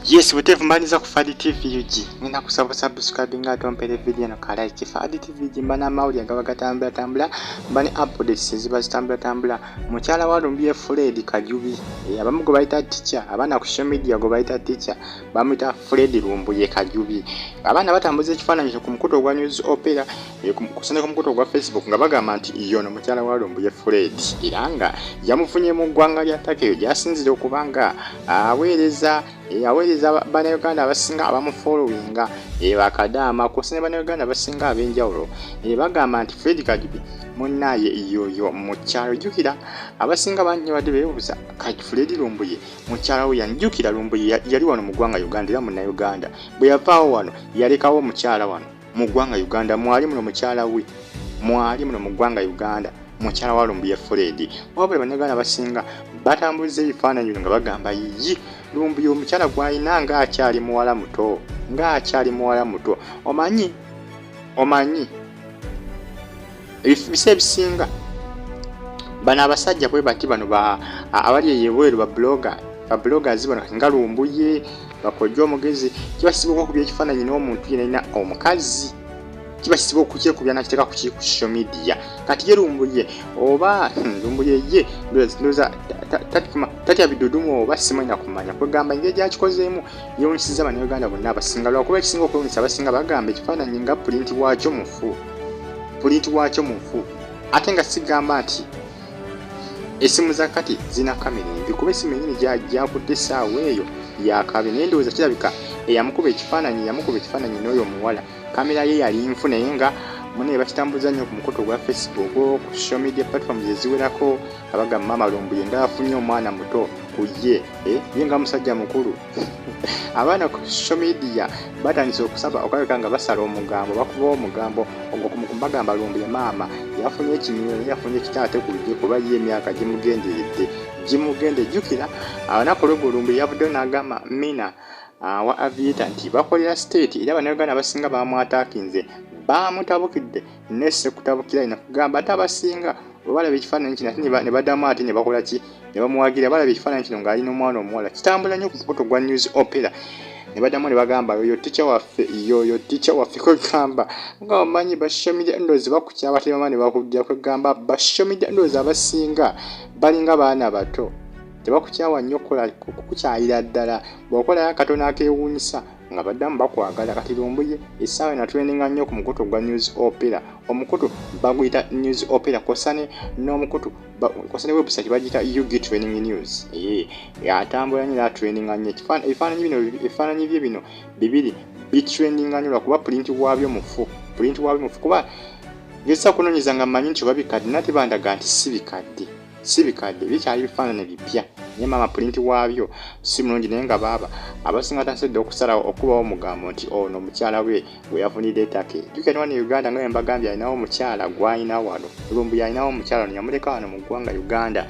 Yes, whatever mbaniza ku Fadi TV UG. Ngenda kusaba subscribe nga atompere video no kala iki Fadi TV UG mbana mauli agaba gatambula tambula mbani updates ziba zitambula tambula. Muchala wa Lumbiye Fred Kajubi. E, eh, abamu go baita teacher, abana ku social media go baita teacher. Bamuita Fred Lumbuye Kajubi. Abana batambuze kifananyo ku mkuto gwa news opera. kusana ku mukutu ogwa facebook nga bagamba nti yono mukyala wa lumbuye fred era nga yamufunye mu ggwanga lya takeyo gyasinzira okuba nga aweereza eh, aweereza banauganda abasinga abamufolowinga eh, bakadaama kusana banauganda abasinga ab'enjawulo eh, bagamba nti fred kajubi munaaye yoyo mukyalo jukira abasinga bangi badde beebuuza kati fred lumbuye mukyala we yani jukira lumbuye yali wano mu ggwanga uganda era munnauganda bwe yavaawo wano yalekawo omukyala wano mu ggwanga uganda mwali muno mukyala we mwali muno mu ggwanga uganda mukyala wa lumbuye fred wabula banaganda abasinga batambuliza ebifaananyi bino nga bagamba yiyi lumbuye omukyala gwalina nga akyali muwala muto nga akyali muwala muto omanyi omanyi ebifubisa ebisinga bano abasajja bwe bati bano abali eyebweru babuloga babuloga zibano nga lumbuye bakojja omugezi kibasibuka okuba ekifaananyi n'omuntu yenalina omukazi kibasiba okukyekubya nakiteeka ku social media kati ye lumbuye oba hmm, lumbuye ye ndoza tatya bidudumu oba simanya kumanya kwegamba engeri gyakikozeemu yewunyisiza banauganda bonna abasinga lwakuba ekisinga okwewunyisa abasinga bagamba ekifaananyi nga pulinti waakyo mufu pulinti waakyo mufu ate nga sigamba nti esimu za kati zirina kamera embi kuba esimu enyini gyakutte essaawa eyo yakabye naye ndowooza kirabika eyamukuba ekifaananyi yamukuba ekifaananyi n'oyo omuwala kamera ye yali nfu naye nga mune bakitambuza nnyo ku mukutu ogwa facebook ku social media platforms eziwerako abaga maama lumbuye nga afunye omwana muto ku ye eh, ye nga musajja mukulu abaana ku social media batandise okusaba okalabika nga basala omugambo bakuba omugambo ogwo kumagamba lumbu ya maama yafunye ekimyuno yafunye ekitaate ku lugye kuba ye emyaka gimugenderedde gimugende jjukira abanaku lwegulumbu yavuddeyo n'agamba mina ah, wa avieta nti bakolera state era banauganda abasinga bamwatakinze bamutabukidde ne sekutabukira ina kugamba ate abasinga webalaba ekifaananyi kino ate ne badamu ate ne bakola ki ne bamuwagira balaba ekifaananyi kino ng'ali n'omwana omuwala kitambula nnyo ku mukutu gwa news opera ne badamu ne bagamba yoyo tica waffe yoyo tica waffe kwegamba nga omanyi bashomide ndozi bakukyaba tebama ne bakujja kwegamba bashomide ndozi abasinga balinga baana bato tebakukyawa nnyo kukukyayira ddala bw'okolayo akatono akewuunyisa nga baddamu bakwagala kati lumbuye essaawa ena tuleninga nnyo ku mukutu gwa news opera omukutu baguyita news opera kosane n'omukutu kosane website bagiyita ug training news ee atambula nyo era traininga nnyo ebifaananyi bino ebifaananyi bye bino bibiri bitraininga nnyo lwakuba pulinti waabyo mufu pulinti waabyo mufu kuba ngezisa kunonyeza nga manyi nti oba bikadde nate bandaga nti si bikadde si bikadde bikyali bifaanane bipya naye maama pulinti waabyo si mulungi naye nga baaba abasinga tasedde okusalawo okubawo omugambo nti ono oh, mukyala we gwe yafunidde etake jukira ne wano e uganda nga yembagambye alinawo omukyala gwalina wano lumbuye alinawo omukyala ono yamuleka wano mu ggwanga uganda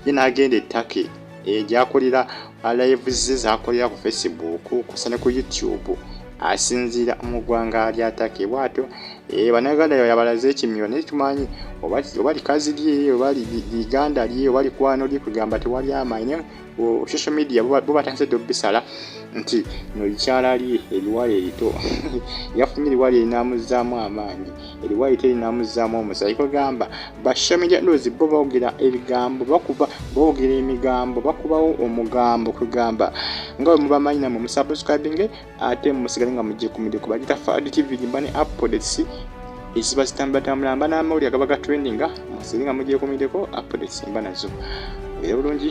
ye n'agenda ettake eh, gyakolera uh, lives ze zakolera ku facebook kusa ne ku youtube asinziira mu ggwanga lyatake bwatyo eh, banaganda yabalaze ekimiro naye tumanyi oba likazi lye oba liganda lye oba likwano lye kugamba tewali amaanyi naye oh, social media bo batandise dde obisala nti no likyala lye ebiwala erito yafunye eriwala erinamuzaamu amaanyi eriwayi terinamuzzaamu omusaayi kwegamba bashamijadozi bo bawogera ebigambo bakuba bawogera emigambo bakubawo omugambo kwegamba nga bwe mubamanyi namwe musubscribinge ate musigale nga mujje ku midiyo kubagita fad tv gimba ne updates eziba zitambulatambula mba n'amawulire agaba ga trendinga musigale nga mujje ku midiyo updates mba nazo era bulungi